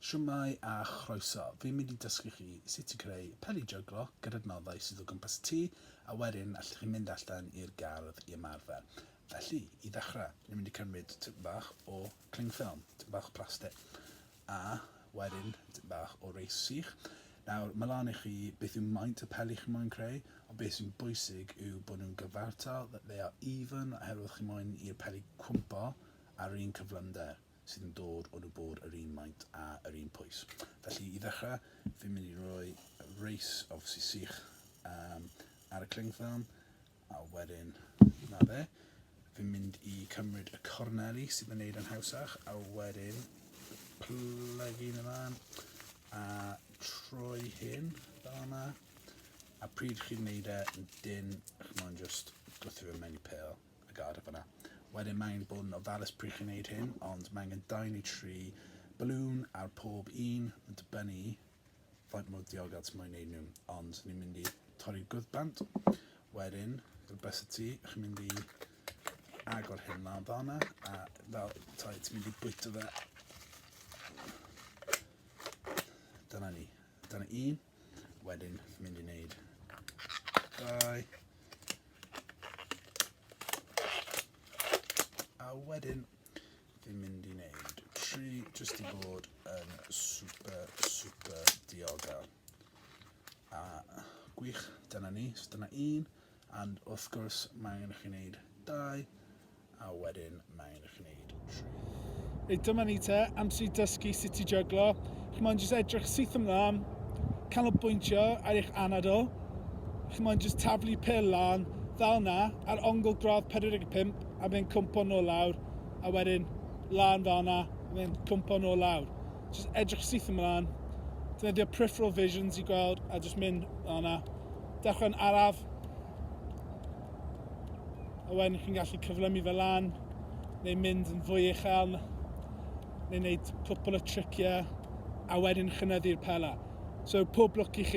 Shwmae a chroeso, fi'n mynd i dysgu chi sut i greu peli jyglo gyda nodau sydd o gwmpas y tŷ a wedyn allwch chi mynd allan i'r gardd i ymarfer. Felly, i ddechrau, ni'n mynd i cymryd tipyn bach o cling film, tipyn bach o plastig, A, wedyn, tipyn bach o reis sych. Nawr, mae lan i chi beth yw maint y peli chi moyn creu, ond beth sy'n bwysig yw bod nhw'n gyfartal, that they are even, oherwydd chi moyn i'r peli cwympo ar yr un cyflymder sydd yn dod o nhw bod yr un maint a yr un pwys. Felly, i ddechrau, fi'n mynd i roi reis, obviously sych, um, ar y cling film, A wedyn, 'na fe. Fi'n mynd i cymryd y corneli sydd yn neud yn hawsach, a wedyn plygu hyn ymlaen, a troi hyn fel yma. A pryd chi'n neud e, dyn, chi'n mwyn just gwthio fe mewn i pel a gad e fyna. Wedyn mae angen bod yn ofalus pryd chi'n neud hyn, ond mae angen 2 neu 3 balloon ar pob un, yn dibynnu faint mor diogel ti moyn neud nhw, ond ni'n mynd i torri gwddbant, bant, wedyn, rhywbeth y ti, chi'n mynd i agor hyn lan fanna, a fel, toi, ti'n mynd i bwyta fe. Dyna ni. Dyna un. Wedyn, chi'n mynd i wneud dau. A wedyn, Dwi'n mynd i wneud tri jyst i bod yn super, super diogel. A gwych, dyna ni. So dyna un. And wrth gwrs, mae angen i chi wneud dau. A wedyn, mae angen i chi wneud tri. Reit, dyma ni te, amser i dysgu sut i jyglo. Chi'n moyn jyst edrych syth ymlaen, canolbwyntio ar eich anadl. Chi'n moyn jyst taflu pil lan, fel na, ar ongl gradd 45, a fe'n cwmpo nôl lawr, a wedyn lan fanna, a fe'n cwmpo nôl lawr. Just edrych syth ymlaen, defnyddio peripheral visions i gweld, a just mynd fanna. Dechrau'n araf, a wedyn chi'n gallu cyflymu fe lan, neu mynd yn fwy uchel, neu wneud cwpl o triciau, a wedyn chynyddu'r pela. So, pob lwc i chi.